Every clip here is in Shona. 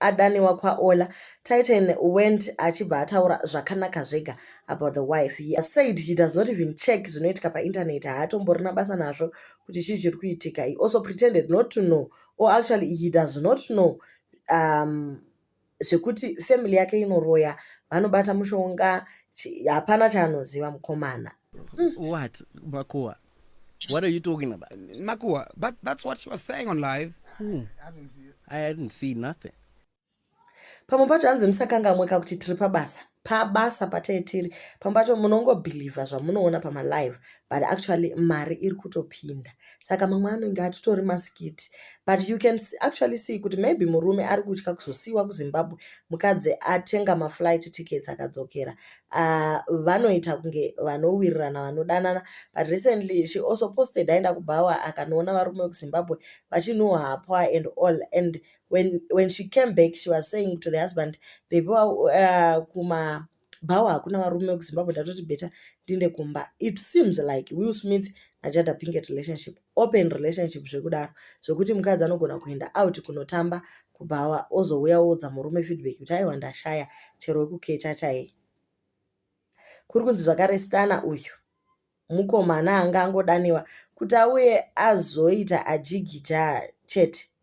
adaniwa kwaola titan went achibva ataura zvakanaka zvega about the wife he said he does not even check zvinoitika painternet haatomborina basa nazvo kuti chii chiri kuitika he also pretended not to know or actually he does not know um, zvekuti family yake inoroya vanobata mushonga hapana chaanoziva mukomana mm. what makuwa What are you talking about? Makua, but that's what she was saying on live. Who? I hadn't seen nothing. pamwe pacho hanzi musakangamweka kuti tiri pabasa pabasa patai tiri pamwe pacho munongobhilivha zvamunoona pamalive but actually mari iri kutopinda saka mamwe anenge atitori maskiti but you can actually see kuti maybe murume ari kutya kuzosiyiwa kuzimbabwe mukadzi atenga maflight tickets akadzokera Uh, vanoita kunge vanowirirana vanodanana but recently she also posted aenda kubhawa akanoona varume vekuzimbabwe vachinhuhwa hapwa and all and when, when she came back she was saying to the husband baby uh, kuma bhawa hakuna varume vekuzimbabwe ndatoti beta ndinde kumba it seems like will smith najada pinket relationship open relationship zvekudaro zvekuti mukadzi anogona kuenda out kunotamba kubhawa ozouya oudza murume feedback kuti aiwa ndashaya chero wekukecha chaiye kuri kunzi zvakare stana uyu mukomana anga angodaniwa kuti auye azoita ajigija chete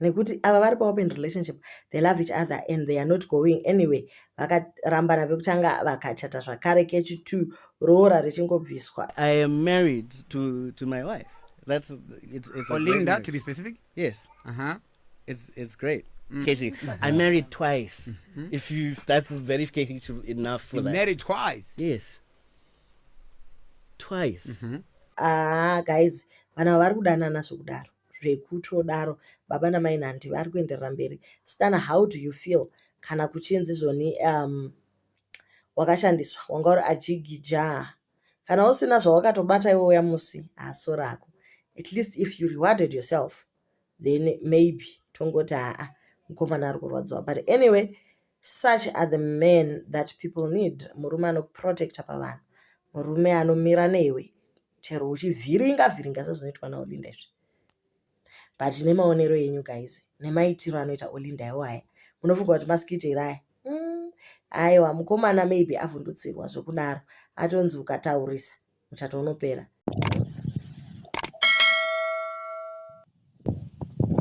nekuti ava vari paopen relationship they love each other and they are not going anyway vakarambana vekutanga vakachata zvakare kechi t roora richingobviswa i am married to, to my wife that's it's, it's olinda oh, to be specific yes uh -huh. it's, it's great Mm. Keshi, mm. I married twice. Mm -hmm. If you, that's very keshi enough for you that. Married twice. Yes. Twice. Mm -hmm. Ah, guys, vana vari kudanana zvekudaro. zvekutodaro baba namai nandi vari kuenderera mberi stana how do you feel kana kuchinzi zvoni um, wakashandiswa wanga uri ajigija kana usina zvawakatobata iwe uya musi haso rako at least if you rewarded yourself then maybe tongoti haa mukomana ari kurwadziwa but anyway Such are the men that people need. Murume anokuprotecta pavanhu. Murume anomira newe chero uchivhiringa vhiringa sezvinoitwa naOlinda izvi. But nemaonero enyu guys, nemaitiro anoita Olinda iwo aya, munofunga kuti maskiti here aya? Mm, aiwa mukomana maybe avhundutsirwa zvekudaro, atonzi ukataurisa muchato unopera.